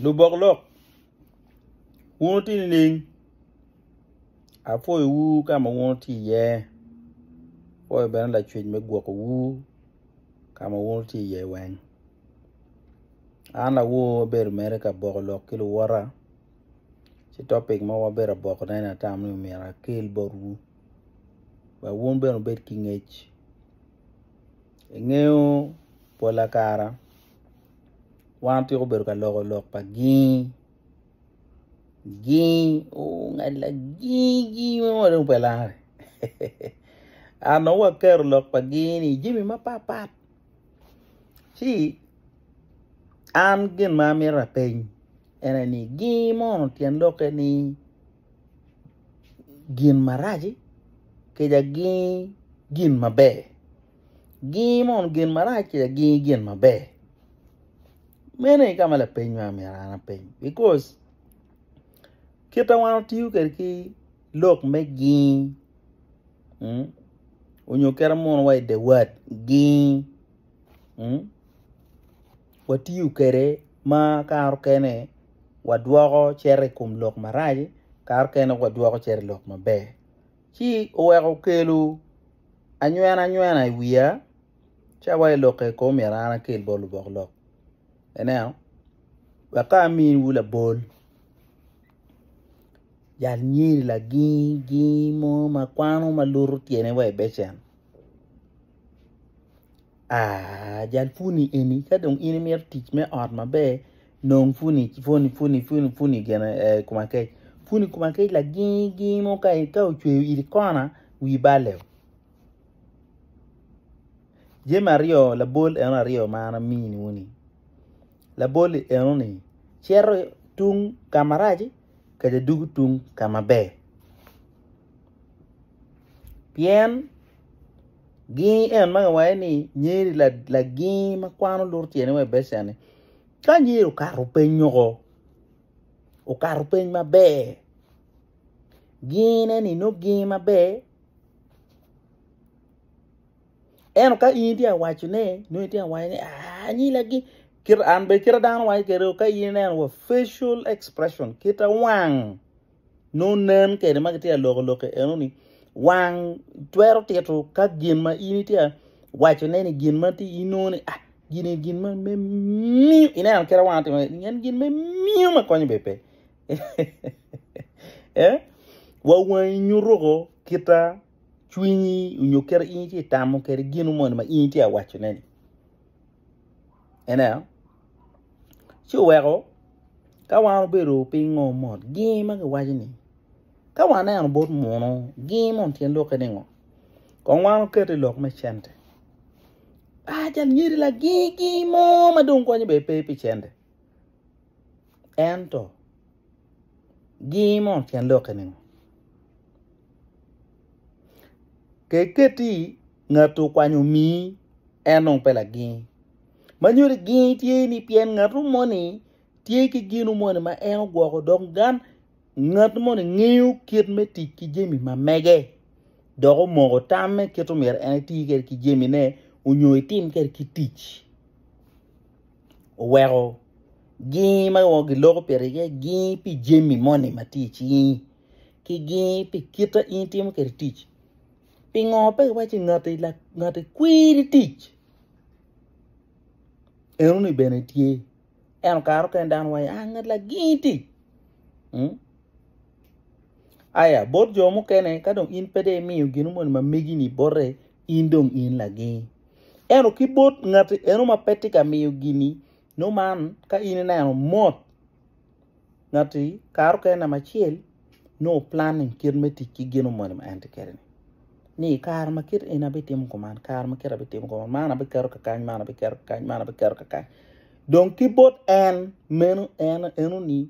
Lubok lok, wun wutye nining? Apwoyowu ka ma wun wutye iye, apwoyo bene Lacwec me gwokowu ka ma wun wutye iye weng. An awor bedo mere ka boko lok ki luwota, ci topic mo ma abedo ka bokone ni atamo ni myero akel botwu wek wun bene wubed ki ngec. Ingeyo pola kare wan tweko bedo ka loko lok pa gingi gingi ongalla gingi gingi ma wano dong pe lange an nongo waketo lok pa gingi ni jami mapatpat ci an gin ma amito apeny en aye ni gingi mono tyen lokke ni gin marac-ci kija gingi gin maber Gingi mono gin marac kaya gingi gin maber? Meno aye ka ma lapeny ma myero an apeny bikos kit ma wan watiyo kwede ki lok me gingi mm onyo kit munu wa ide wat gingi mm watiyo kwede ma kare okene wadwoko cito i kom lok marac kare okene wadwoko cito i lok maber. ci oweko okelo anywenanywena i wiya ca wa i lokke kong omyero an akel bot lubok lok ineno wek ka amiwu labol yal nyiri laginggi mo ma kwano ma luto tyene wa i becen. Aah jal puni eni ka dong in imito tic me ot maber nong puni puni puni puni puni gin aye kom akec puni kom akec laginy giny mo ka ocweyo iti kona wi balle oo jami aryo labol eno aryo ma an amini wu ni labol eno ni cito tung ka marac-ci kede dugu tung ka maber Pien gingi en ma kiwaco ni nyeri lagingi ma kwano luto tyene wa i becen-ni, ka nyeri okato piny woko okato piny maber gingine-ni nongo gingi maber ento ka in itye ka wacone nongo itye ka waco ni aai nyeri lagingi kit ma an bene kit ma dano waco kwede ka in ineno wa facial expression kit ma wang nongo nen kede ma gitye ka loko lokke eno ni wang twero tito ka gin ma in itye ka wacone ni gin ma inongo ni ah gini gin ma me miyo ineno kite wang atimo en gin me miyo ma konyo bebe eh wa wangi nyutuko kita cwinyi onyo kere in itye tamo kede gin moni ma in itye ka wacone ni Ineno? Ci oweko ka wan obedo piny ngo mot gingi ma giwaco ni ka waneno bot muno gingi moni tyen lwokke ni ngo? Kong wan oket i lok me cente. Ajal nyeri lagingi gingi mo ma dong konyo bene pe pi cente. Ento, giny mo tyen dokke ningo? Ka iketi i ngat okwanyo omii, en dong pe laginy. Ma nyodi giny tye ni pien ngatu moni tye ki gino moni ma en ogwoko dok gan ngat moni ngeyo kit me tic ki jami ma mege dok omoko tamme kit myero en eti kwede ki jamine onyo etim kwede ki tic. oweko gingi ma onongo giloko piri iye gingi pi jami moni ma tye icingi ki gingi pi kit ma in itimo kwede tic pingo pe iwaco ni ngati kwiri tic eno ni bene tye ento kare mukene dano waco ni ngat lagingi tic aya bot jo mukene ka dong in pe dong imiyo gin moni ma megi ni bote. in dong in lagi. Ento ki bot ngati eno ma pe tye ka miyo gini, no man ka in ineno mot ngati karo kene namba acel no planning kit me tic ki gino moni ma en tye kede ni. Ni i kare ma kit eni abitimo kuman, kare ma kit abitimo kuman, man abiketo kakany, man abiketo kakany, man abiketo kakany. Dong ki bot en meno en eno ni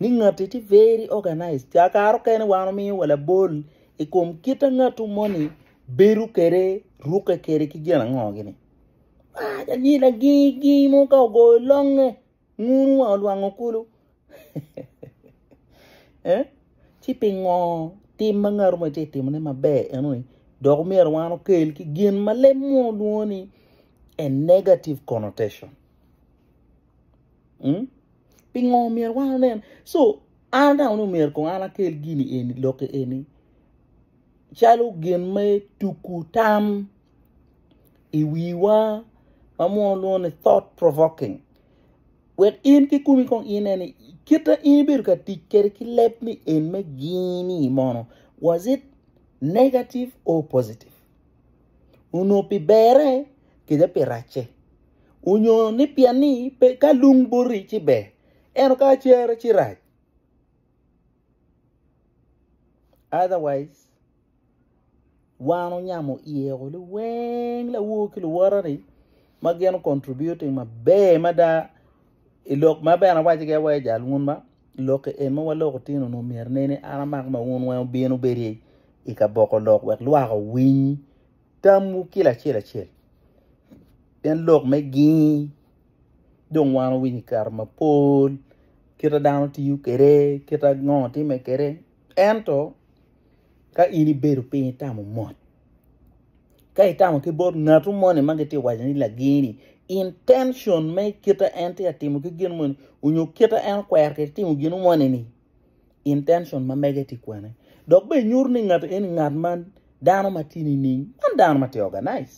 Ni ngatti tye very organized. Ca kare okene wan omiyo wa labol i kom kit a ngattu moni bedo kede, rukke kede ki gin ango gini. Mac anyi lagingi gingi mo ka ogoyo longe, ngunu wa olwango kulu. eh? Ci pingo tim ma ngattu mo tye timone maber enoni dok omyero wan okel ki gin ma leb muno lwongo ni a negative connotation. Mm? Pingo myero wan onen? So, an atamo ni myero kong an akel gini eni, lokki eni, calo gin me tuku tam i wiwa ma munu lwongo ni thought provoking. Wek in ki kumi kong ine ni kit ma in ibedo ka tic kede ki leb ni en me gini mono was it negative or positive? onongo pi berre kede pi racce, onyo ni pien ni ka lung boti ci ber ento ka cere ci rac otherwise wan onyamo iye o liweng lawo ki luwote ni ma gin o contributing maber mada i lok ma bene awaco gi awaca jal wun ma. Lok en ma waloko otino nu myero ne ni an amako ma wun weng obin obedi i ka boko lok wek lwak owiny tam wu kila acel acel. Pien lok me gingi dong wan owinyo kare ma pol kita dano tiyo kede kita ngo time kede ento ka in ibedo piny itamo mot. ka itamo ki bot ngatu moni ma gitye ka waco ni lageni intention me kite en tye ka timo ki gin moni onyo kite en okwero ki timo gin moni ni intention ma mege tye kwene dok bene nyuto ni ngat eni ngat ma dano ma tye nining man dano ma tye organize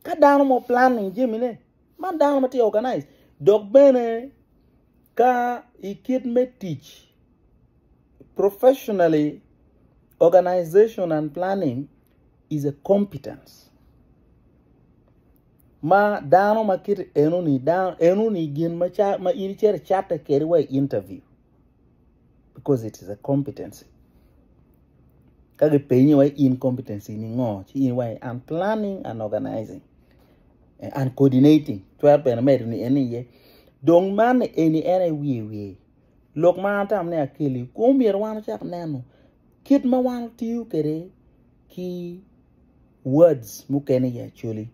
ka dano mo planning jami ne man dano ma tye organize dok bene ka ikit me tic Professionally, organization and planning is a competence ma dano ma kit enoni, enoni gin ma in icito icatte kede wa i interview because it is a competency. Ka gipenyi wa in competency ni ngo, ci in wa an planning and organizing eh, and coordinating. Cwer bene medo ni en iye. Dong man eni en aye wiye wiye. Lok ma an atamo ni akeli ku myero wan wacak neno kit ma wan watiyo kwede ki words mukene i Acholi.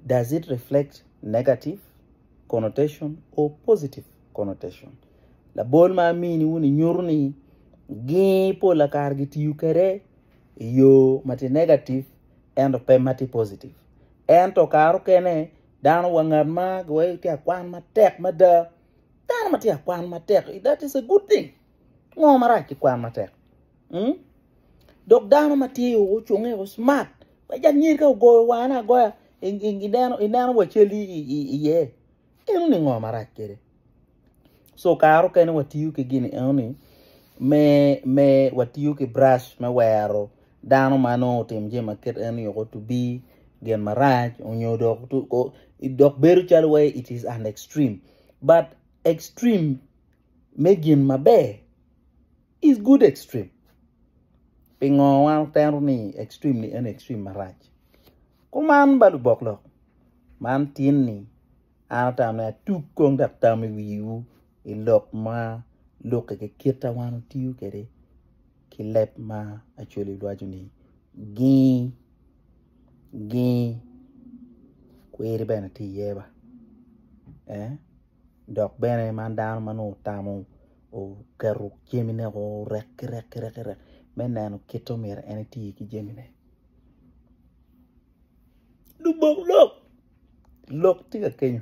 Does it reflect negative connotation or positive connotation? Labol ma amini wun inyuto ni gi pola kare gitiyo kwede i yo ma ti negative ento pe ma ti positive. Ento kare okene dano wa ngat ma giwaco ti akwan matek mada Dano ma tye ka kwan matek, that is a good thing. Ngo marac ki kwan matek? Hmm? Dok dano ma tye ocunge o smart, pe ja nyir ka ogoyo wane agoya, i- i- ineno ineno wa cal i- i- i- iye. Eno ni ngo marac kede? So karo kene watiyo ki gini eno ni me me watiyo ki brush me wero dano ma nongo otimo jami ma kit eno-ni woko to be gin marac nyo dok dok bedo calo wai it is an extreme but extreme me gin maber is good extreme pingo wan watero ni extreme ni en extreme marac kuman ba lubok lok man tin-ni An atamo ni atug kong dok tam i wiwu i lok ma lukke ki kit ma wan watiyo kwede ki leb ma Acholi waco ni gii, gii kwiri bene tye iye ba ee dok bene man dano ma nongo otamo oketo jamine woko orek ki rek ki rek me neno kit ma omyero en eti ki jamine. lubok lok lok tye ka kenyo